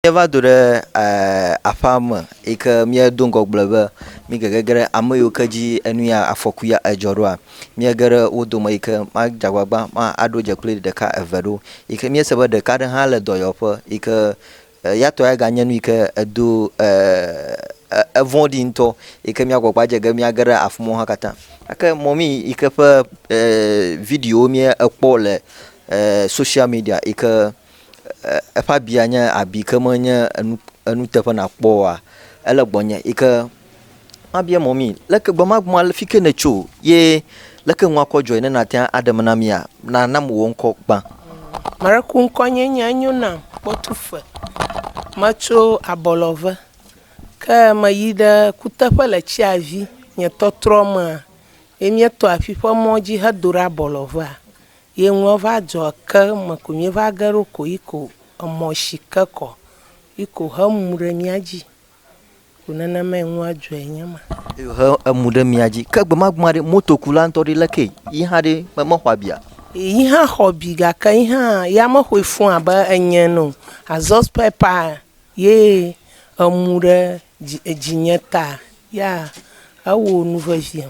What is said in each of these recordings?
Míeva do ɖe aƒe me yi ke míedo ŋgɔgbe be mígegege ɖe ame yiwo ke dzi enu ya afɔku ya edzɔ ɖoa, Mía ge ɖe wo dome yi ke madze agbagba aɖo dze kpli ɖeka eve ɖo yi ke míese be ɖeka aɖe hã le dɔyɔƒe yi ke eya tɔ ya ganye nu yi ke edo e e evɔ̃ɖi ŋutɔ yi ke mía gbɔgbɔ adze ge míage ɖe afi ma wo hã katã. Gake mɔmi yi ke ƒe e videowo míekpɔ le e soshiamedia yi ke eƒe abia nye abi ke menye enuteƒe nakpɔ oa, ele gbɔnye yi ke mabia mɔ mí leke gbe ma gbe ma fi ke nètso ye leke nu akɔ dzɔe ne nàte ŋu aɖem na mía? Nana me wò ŋkɔ gbã. Mareku ŋkɔnye nye enyo nam kpɔtuse. Metso abɔlɔve ke meyi ɖe kuteƒe le tsiavi. Nye tɔtrɔ mea, ye míetɔ afi ƒe mɔ dzi hedo ɖe abɔlɔvea. Ye ŋlɔ va dzɔ ke me ko mi va ge ɖo ko yi ko emɔ shi ke kɔ yi ko he emu ɖe mía dzi. Ko nenema yi ŋlɔ dzɔ yi nye ma. Yi he emu ɖe mía dzi. Ke gbemagbema ɖe motokula ŋutɔ ɖe leke yi hã ɖe me me xɔ abia? Yi hã xɔ abi gake yi hã ya me xoe fũ abe enye ene o. Azɔ spare part ye emu ɖe dzi edzi nye ta ya ewo nu veviam.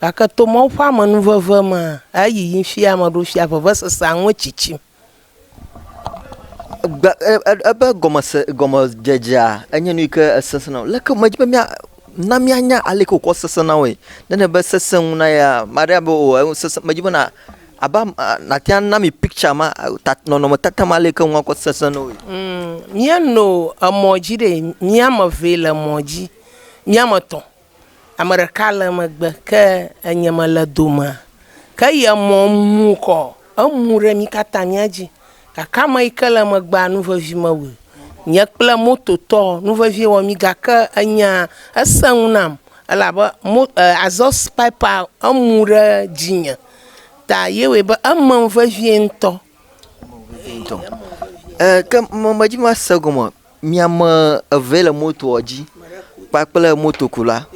Gake to Mawu ƒe amenuveve mea, eyiyi fia ame aɖewo fia vevesesea ŋu etsitsim. Gbe, e, e, ebe gɔmese, gɔmedzedzea enye nu yi ke esesẽ na wò. Leke medzi be mía, na míanya ale yi ke wòkɔ sesẽ na woe. Ne enye be sesẽ ŋu na yea, ame aɖe abe o, enu sesẽ, medzi be na, abe am, a, nàte ŋu ana mi picture ma, a, ta, nɔnɔmetata ma ale yi ke ŋu akɔ sesẽ na woe. Ŋ, míeno emɔ dzi ɖee. Mía ame evee le emɔ dzi. Mía ame etɔ̃ Ame ɖeka le megbe ke enye mele domea. Ke ye mɔ mu kɔ, emu ɖe mí katã mía dzi gake ame yi ke le megbea nu vevi mewɔe. Nye kple mototɔ nu vevi wɔ mí gake enya esẽ ŋu nam elabe mo e exhaust pipe emu ɖe dzinye ta ye wɔe be emem vevie ŋutɔ. Ŋutɔ e ke me medzi be mase gɔme o. Mi ame eve ye le motoa dzi kpakple motokula.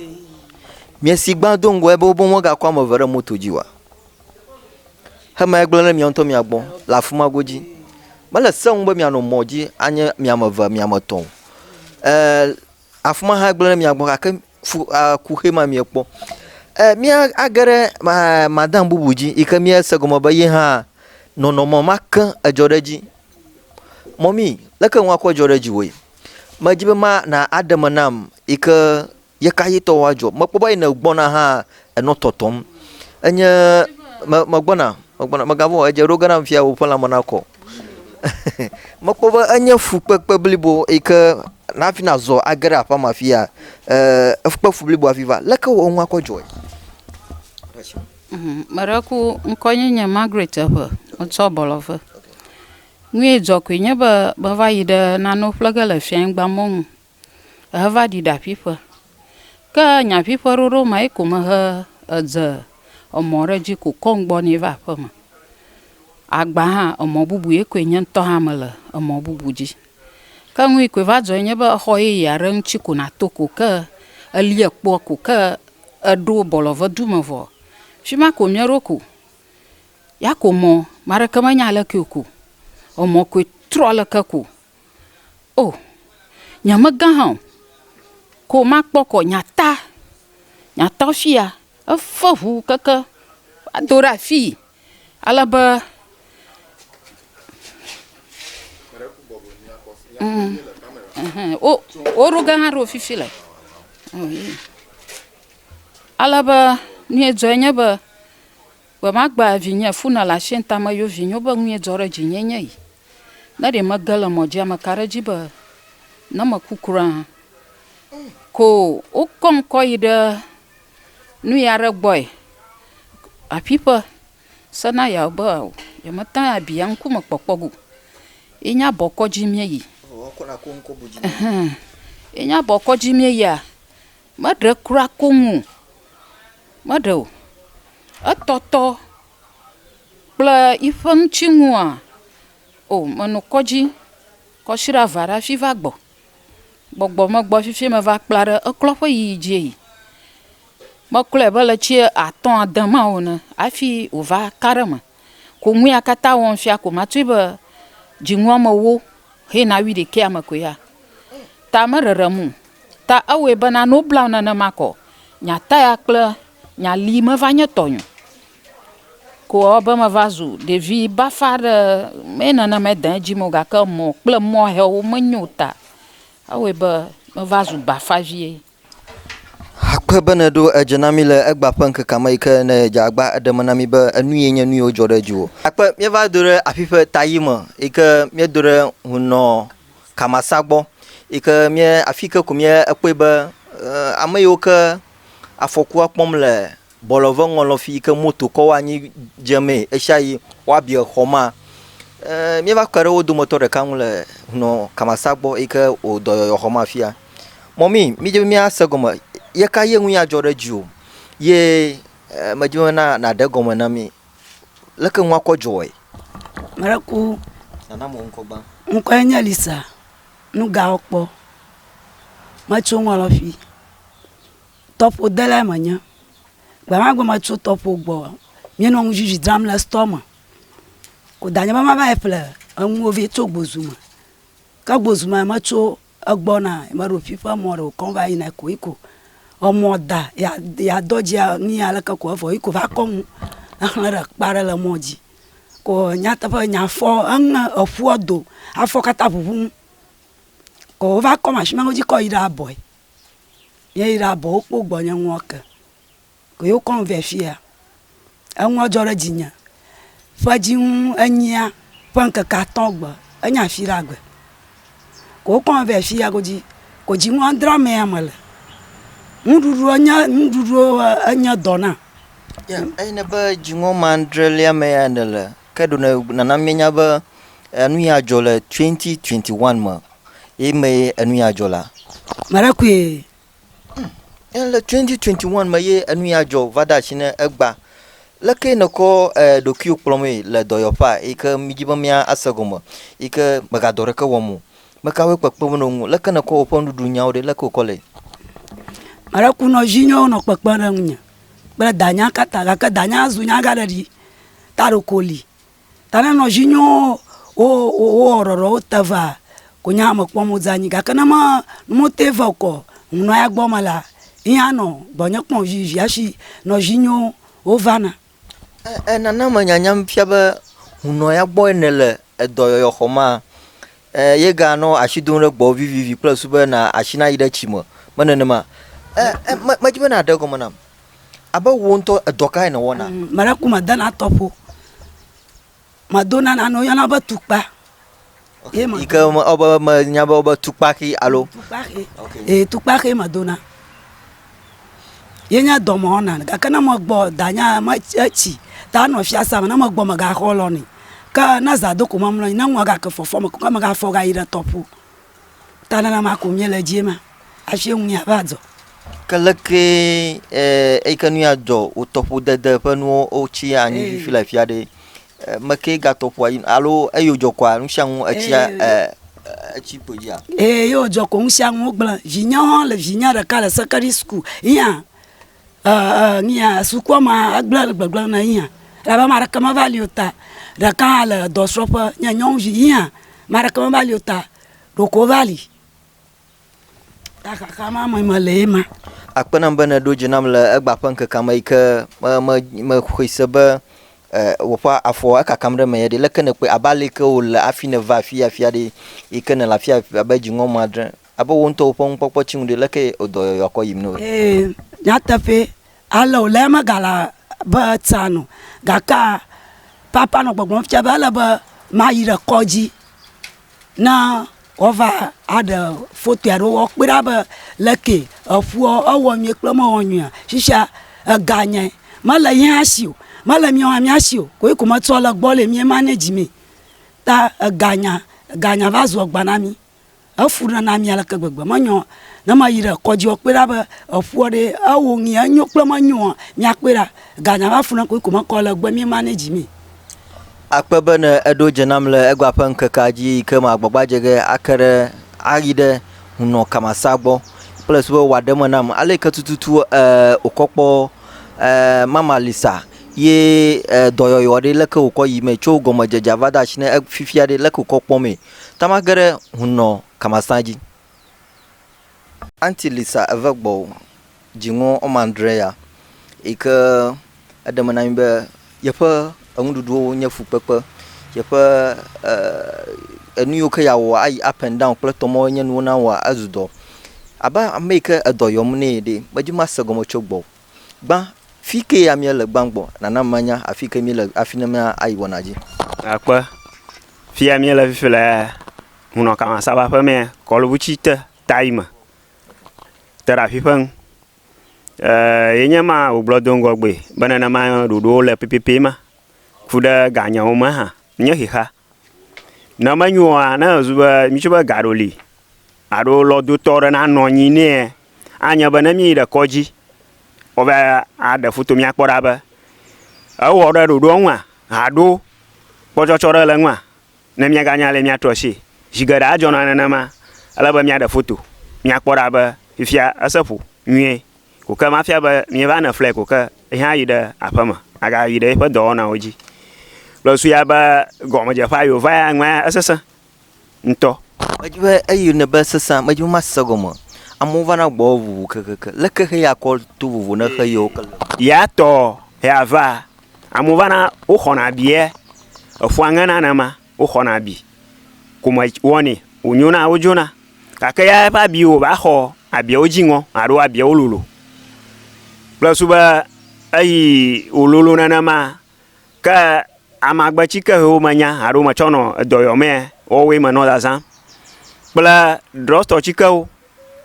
Miesi gbã do ŋgɔe be wobe womegakɔ ame eve ɖe moto dzi oa? Hema egblẽ ɖe mia ŋutɔ mia gbɔ le afi ma godzi. Mele se ŋu be mianɔ mɔ dzi anye mi ame eve, mi ame etɔ̃ o. Ee, afi ma hã gblẽ ɖe mia gbɔ gake fu e kuxi ma miekpɔ. E míage ɖe e madam bubu dzi yi ke míese gɔme be ye hã nɔnɔme ma ke edzɔ ɖe edzi Mɔmie, leke ŋu akɔ dzɔ ɖe dziwòe? Medi be ma na aɖe me nam yi ke ye ka ɣi tɔ woadzɔ. Mekpɔ be yine gbɔna hã enɔ tɔtɔm. Enye me me gbɔna me gbɔna mega vɔ̃ o edze ɖoge nam fia woƒe lãme na kɔ. Mekpɔ be enye fukpekpe blibo yi ke nafi na zɔ age ɖe aƒea me afia e kpe fu blibo hafi va. Leke wò ŋu akɔ dzɔe? Meɖe ku ŋkɔnyenye Margaret eŋe metsɔ bɔlɔ ve. Nui dzɔ koe nye be meva yi ɖe nanewo ƒle ge le fianyigba mɔ nu heva ɖi ɖa ƒiƒe. Ke nya ƒiƒe ɖoɖo ma ye ko mehe edze emɔ ɖe dzi ko kɔ ŋgbɔ nɛ va aƒe me. Agba hã emɔ bubu ye koe nye ŋutɔ hã mele emɔ bubu dzi. Ke nui koe va dzɔ nye be exɔ yeye aɖe ŋuti ko nato ko ke elie kpɔ ko ke eɖo bɔlɔvedu me vɔ. Fi ma ko mieɖo ko. Ya ko mɔ maɖeke me nya leke o ko o mɔ koe trɔ leke ko o nya me gã hã o ko ma kpɔ kɔ nya ta nya ta fia efe ʋu keke wa do ɖe afi ale be o o ɖo gã hã ɖo fifi le ale be nu ye dzɔ nye be Gbe ma gbe vinye funa le asie nta me yo vinyo be ŋuye dzɔ ɖe dzinye nye yi. Ne ɖe mege le mɔ dzia me ka ɖe dzi be ne me ku kura hã ko wo kɔ ŋkɔ yi ɖe nu ya ɖe gbɔe aƒi ƒe se na ya be o ye me ta ya bia ŋku me kpɔkpɔ go yi nya bɔ kɔ dzi mie yi. Ehɛn. Yi nya bɔ kɔ dzi mie yia Meɖe kura koŋ o, meɖe o. Etɔtɔ kple yiƒe ŋutinua, o menɔ kɔdzi kɔshiɖe ava ɖe hafi va gbɔ. Gbɔgbɔ megbɔ fifi meva kpla ɖe eklɔ ƒe yiyi dzie yi. Meklɔe be le tsi atɔ̃ ade ma o ene hafi wova ka ɖe eme. Ko nu ya katã wɔm fia ko matsoe be dzinu ame wo he na wi ɖekɛ ame ko ya. Ta me rerem o. Ta ewɔe be na no blam nenema kɔ nya taya kple nya li me va nye tɔ nyo. Ko wɔ be me va zu ɖevi bafa ɖe me nene me de edzi mo gake mɔ kple mɔ he wo me nyo ta ewɔe be me va zu bafa vie. Akpe be nèɖo edze na mí le egbea ƒe ŋkekea me yi ke nèdze agba eɖe me na mí be enuye nye nuyiwo dzɔ ɖe dziwò. Akpe míeva do ɖe afi ƒe taɣi me yi ke míedo ɖe ŋu nɔ Kamasa gbɔ yi ke míe afi yi ke ko míekpɔe be ame yiwo ke afɔkua kpɔm le Bɔlɔ ve ŋɔlɔ fi yi ke moto kɔ woanyi dze mee ɣeshiaɣi woabiɔ xɔ ma. E, míeva kpe ɖe wo dometɔ ɖeka ŋu le hunɔ Kamasa gbɔ yi ke wò dɔyɔyɔ xɔ ma fia. Mɔmi, mídze be míase gɔme ye ka ye ŋu ya dzɔ ɖe dzi o. Ye e, medze be na nàɖe gɔme na mí. Leke ŋua kɔ dzɔe? Mele ku. Nana mo ŋkɔ gbã. Ŋkɔe nye Lisa. Nu ga wokpɔ. Metso ŋɔlɔ fi. Tɔƒodelae menye. Gbe ma gbe metso tɔƒo gbɔ, míenɔ nuzizi dzram le store me. Ko danye be mava yi ƒle enuwo vɛ tso gbozu me. Ke gbozu me metso egbɔ na meɖo ƒiƒe mɔ ɖe wokɔm va yina ko yiko emɔ da ya ya dɔ dzi nu ya leke ko evɔ yiko va kɔ nu exle ɖe kpa ɖe le mɔ dzi. Ko nyateƒe nya fɔ eŋe eƒua do afɔ katã ʋuʋum. Ko wova kɔ mashimewo dzi kɔ yi ɖe abɔe. Míeyi ɖa bɔ wokpɔ gbɔnye ŋua ke ko ye wokɔm vɛ fia. Enua dzɔ ɖe dzinye. Ƒedzinu enyia ƒe ŋkeke atɔ̃ gbe enye afi ɖe agbe ko wokɔm vɛ fia godzi ko dzinu adre amea mele. Nuɖuɖu enye nuɖuɖu enye dɔ nam. Eyi ne be dzinu ame adrelia mea nèle ke ɖo ne nana míenya be enu ya dzɔ le 2021 me ye me enu ya dzɔ la marakue hmm. le 2021 me ye enu ya dzɔ va de asi ne egba leke nèkɔ eh, ɖokuiwo kplɔmee le dɔyɔƒea yi ke midi be míase gɔme yi ke megadɔ ɖeke wɔm o mekawoe kpekpem ɖe ŋu leke nèkɔ woƒe nuɖuɖu nyawo ɖe leke wòkɔ le maɖekunɔ zi nyawo nɔ kpekpe ɖe ŋunye kple danya kata gake danya zu nya gã ɖe ɖi ta ɖoko li ta ne nɔ dzi nyɔɔ wo wo wo wɔ ɖɔɖɔ wo te va ko nya me kpɔm wo dza nyi gake ne me ne me te va okɔ ŋnɔ ya gbɔ me la ŋya nɔ gbɔnye kpɔ vivi hafi nɔ dzi nyɔ wo va na e nana me nyanya fia be ŋnɔ ya gbɔ ne le edɔyɔyɔ xɔmaa E, yega nɔ ashi dom ɖe gbɔwò vivivi kple susu be na ashi nayi ɖe tsi me. Me nenema. E, e, me, medzi be nàɖe gɔme nam. Abe wò ŋutɔ edɔ kae nèwɔna? Mm, meɖe ku mede na tɔƒo. Medo na nane woyɔna be tukpa. Ye me. Yi ke me, wobe, menya be wobe tukpaxi alo. Tukpaxi. Okay. Ee, tukpaxi medona. yenya dɔ me wɔna gake ne megbɔ danye etsi ta nɔ fiasea me ne megbɔ megaxɔ lɔ nɛ ke ne zã do ko mamlɔ anyi ne nua gake fɔfɔ me ke megafɔ gayi ɖe tɔƒo ta nenema ko mie le dzie ma afi ŋu mia va dzɔ. Ke leke e eyike nu ya dzɔ wotɔƒodede ƒe nuwo wotsi anyi fifi le afia ɖe Mekee gatɔ ƒua dzi alo eyo dzɔ kɔa nu sia nu etsia etsi kpo dzia? Ee, yo dzɔ ko nu sia nu wogblẽ. Vinye hã le vinye ɖeka le secondary school yia yia sukua ma egblẽ le gbegblẽ ne yia elabe ame aɖeke meva li o ta ɖeka hã le dɔsrɔ̃ƒe nye nyɔnuvi yia ame aɖeke meva li o ta ɖeko wova li. Ta xaxa ma me mele ye ma. Akpe nam be nèɖo dzi nam le egba ƒe ŋkekea me yi ke mexɔe se be wò ƒe afɔ ekakam ɖe menye ɖi. Leke nèkpɔe? Abe ale yi ke wòle hafi nèva afia afia ɖi yi ke nèle afia abe dziŋɔ ŋu adre. Abe wò ŋutɔwò ƒe nukpɔkpɔ tsi nu ɖi, leke wò dɔyɔyɔa kɔ yim na wòe? Ee, nyateƒee, Ale wòle eme gale be tsãa nu. Gake papa nɔ gbɔgblɔm fia be ele be mayi ɖe kɔdzi ne woava aɖe fotoe alo woakpɔe ɖa be le ke eƒua ewɔ nyuie kple mewɔ nyuie. Shishia ega nye mele ye hã si o, mele mía hã mía si o. Koe ko metsɔ le egbɔ le mía manage mee. Ta ega nya, ega nya va zu agba na mí. Efu ɖe na mi aleke gbegbe menyo ne meyi ɖe kɔdzi kpɔe ɖa be eƒua ɖe ewɔ ŋee enyo kple menyo ŋu míakpɔe ɖa. Ganya va fu ne koe ko mekɔ le egbe mi manage mee. Akpe be ne eɖo dze nam le egba ƒe ŋkekea dzi yi ke magbɔgbadze ge ake ɖe ayi ɖe hunɔ kamasa gbɔ kple su be wòaɖe eme nam ale yi ke tututu e wòkɔ kpɔ e mama Lisa ye e dɔyɔyɔ ɖe leke wòkɔ yi mee tso gɔmedzedzea va de asi ne e fifia ɖe leke wòkɔ kpɔ mee. Tama ge ɖe hun nɔ kamasã dji. Aunty Lisa eve gbɔo dziŋɔ ɔme adre ya yike eɖe me na mi be yeƒe enuɖuɖuwo nye fukpekpe yeƒe enuyiwo ke ya wɔa ayi up and down kple tɔmɔ enye nuwo na wɔa ezu dɔ abe ameyike edɔ yɔm nɛ ɖɛ medzi mase gɔme tso gbɔo Gbã, Fike ya mìele gbã gbɔ? Nana manya afike mìle afi ne mía ayi wɔna dzi. Akpe, Fia mìele fifi le hunɔ kama saba ƒe mea kɔlubu tsi te tayi me te ɖe afi ƒe ŋu. E, ye nye ma wògblɔ do ŋgɔ gbe be nenema ɖoɖowo le pɛpɛpɛ ma ku ɖe ganyawo me hã nye xexea. Ne menyo ɔa, ne ezu be mìtso be gaɖo li alo lɔdotɔ aɖe nanɔ anyi nɛa, anye be ne mìyi ɖe kɔdzi woava aɖe foto mìa kpɔ ɖa be ewɔ ɖe ɖoɖoa nua alo kpɔtsɔtsɔ ɖe le enua, ne mìaganya ale mìatrɔ asie. Zi geɖe adzɔna nenema. Ele be mìaɖe foto mìakpɔ ɖa be fifia ese ƒo nyuie. Ko ke mafia be mieva ne flɛ ko ke yi hã yi ɖe aƒeme aga yi ɖe eƒe dɔwɔnawo dzi. Kple su ya be gɔmedzeƒea yi wòva ya ŋua esesẽ ŋutɔ. Medzi be eyi ne be sesẽ medzi be masese gɔme. Amewo va na gbɔwò vovo kekeake. Leke xe ya kɔ to vovo ne xe yewo ke le? Ya tɔ ya va. Amewo va na woxɔna bia eƒua ŋena nenema. woxɔna abi kome wɔnɛ wònyona wodzona gake ya eƒe abi wòva xɔ abiawo dzi ŋɔ alo abiawo lolo kple susu be eyi wòlolo nenema ke amagbetsi ke hewo menya alo metsɔ nɔ edɔyɔ mɛ woawoe menɔ zazã kple drɔtɔ tsikewo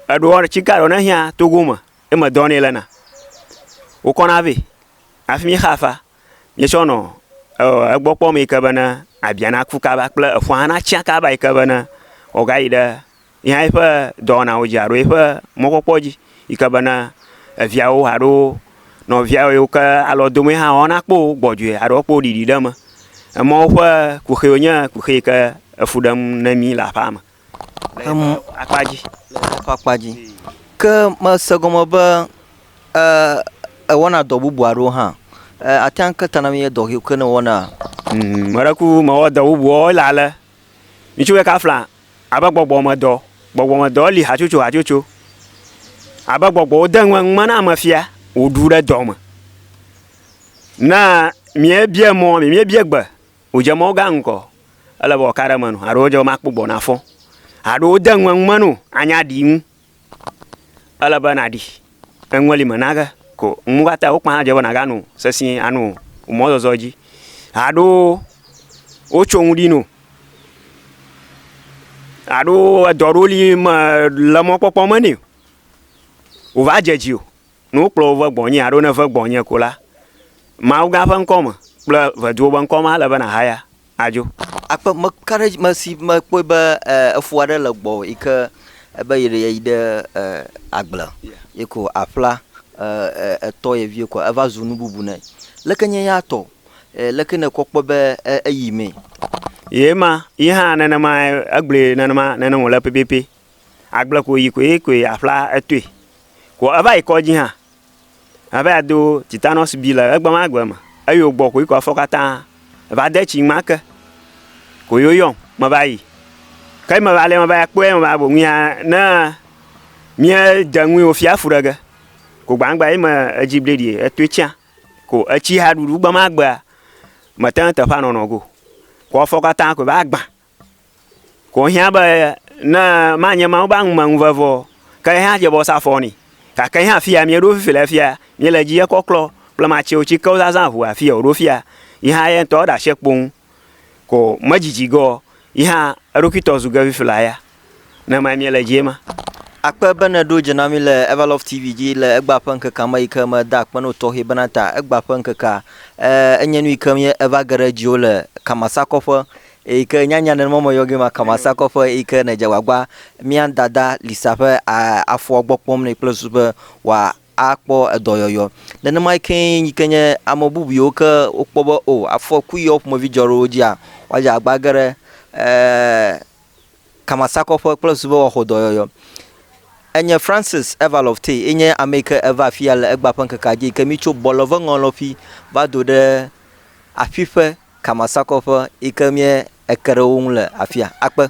eɖewo tsike aɖewo ne hiã togo me ye medɔ nɛ lena wokɔna vɛ afimi xa fa míetsɔ nɔ egbɔ kpɔm yi ke bene abia naku kaba kple eƒua natsã kaba yi ke bene wòagayi ɖe yehã yiƒe dɔwɔnawo dzi alo yiƒe mɔkpɔkpɔ dzi yi ke bene eviawo alo nɔvia yiwo ke alɔ dom ye hã woanakpɔ wo gbɔdzɔe alo woakpɔ wo ɖiɖi ɖe eme. Emɔwo ƒe kuxiwo nye kuxi yi ke efu ɖem na mí le aƒeame. le eƒe akpa dzi. Le eƒe akpa dzi. Ke mese gɔme be e, ewɔna dɔ bubu aɖewo hã. E, ate ŋu ke ta na mi ye dɔ ke ne wɔna. Mm, me ɖe ku mewɔ dɔ bubuwo le ale. Ŋutsu ɖeka fla abe gbɔgbɔmedɔ. Gbɔgbɔmedɔ li hatsotso hatsotso. Abe gbɔgbɔwo de ŋu ŋume na ame fia wòɖu ɖe dɔ me. Ne míebie mɔ, míebie gbe Wodze mɔ gã ŋkɔ, ele be wɔka ɖe eme no, aɖo wodze be makpɔ gbɔ nafɔ, aɖo wode ŋu eŋume no anya ɖi ŋu. Ele be naɖi eŋue li me nage ko ŋu katã wo kpã dze be naga no sesĩe ano wò mɔzɔzɔ dzi. Aɖo wotso ŋu ɖi no, aɖo edɔ ɖewo li me le mɔkpɔkpɔ me nɛ o, wova dze dzi o. Ne wokplɔ wo ve gbɔnye alo ne ve gbɔnye ko la, Mawu gã ƒe ŋkɔ me kple ʋeduwo be ŋkɔ me ale be nàhaya adzo. Akpe meka ɖe edzi mesi mekpɔe be efo aɖe le gbɔwò yi ke be yi ɖe yi ɖe agble ye ko aƒla etɔ ye vie ko eva zu nu bubu nɛ. Leke nye ya tɔ? Leke nèkpɔ kpɔ be eyi mee? Ye ma, yi hã nenemae egblɔe nenema nene wòle pɛpɛpɛ. Agble ko wòyi koe koe aƒla etoe. Ko eva yi kɔdzi hã ava yi do tetanus B le egbe ma gbe me. Eyi wògbɔ koe koe afɔ katã va de tsi ma ke. Ko ye woyɔm meva yi. Ke meva lɛ meva yi akpɔe ya meva boŋue ya ne míede ŋui wòfi afu ɖe ge. Ko gbãgbã ye me edzi bleɖi etoe tsã. Ko etsihaɖuɖu gbe ma gbea, mete ŋu teƒea nɔnɔ go o. Ko afɔ katã koe va gbã. Ko hiã be ne manye Mawu be aŋumeŋuveve o, ke ye hã dze be wosa afɔ nɛ. Gake ye hã afia míeɖo fifi le afia, míele dzi ekɔklɔ kple matsɛwo tsi ke wozazã ŋu afia wòɖo fia. Yi hã ye ŋutɔ eɖe asi ekpo ŋu. Ko medzidzi ge o, yi hã eɖokui tɔ zu ge fifi le aya. Ne mae miele dzie ma. Akpe be nèɖo dze na mí le Everlove TV dzi le egbea ƒe ŋkekea me yi ke meda akpe na wò tɔxɛ bena ta egbea ƒe ŋkekea. E, enye nu yi ke mí eva ge ɖe dziwò le Kamasakɔƒe yi ke nyanya aɖe mɔ meyɔ gee ma Kamasakɔƒe yi ke nèdze agbagba mía dada Lisa ƒe a, afɔa gbɔ kpɔm nɛ kple susu be wòa akpɔ edɔyɔyɔ. Nenema yi ke yi ke nye ame bubu yiwo ke wokpɔ be o afɔku yi ke wɔ ƒomevi dzɔ ɖe wo dzia woadze agbagba ge ɖe e, kamasakɔƒe kple subɔwɔaxɔdɔyɔyɔ. Enye Francis Evalov Tay ye nye ame yi ke eva afia le egbea ƒe ŋkekea dzi yi ke mi tso bɔlɔvɔŋɔlɔƒi va do ɖe aƒiƒe kamasakɔƒe yi ke mie eke ɖe wo ŋu le afia. Akpe.